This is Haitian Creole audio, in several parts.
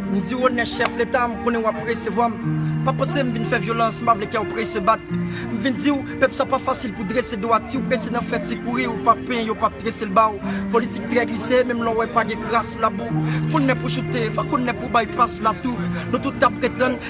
M di Wonè chèf leta m konnen w ap resevwa m Pa panse m vin fè vyolans m pa vle kè w prese bat M vin di w pèp sa pa fasil pou drese do a Ti w prese nan fè ti kouri ou pa penyen yo p ap trese l ba w Politik trè glise menm lè w wè pa gen kras labou Konnè pou choute pa konnè pou bay pas latou Nou tout ta pretann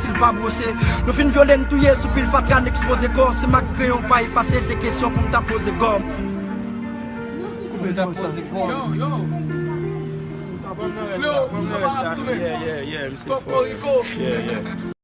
Sil pa brose, yo fin vyole n touye sou pil fatra n ekspoze kò si m ak kreyon pa efase se kesyon pou m ta poze gòm. Pou m ta poze gòm.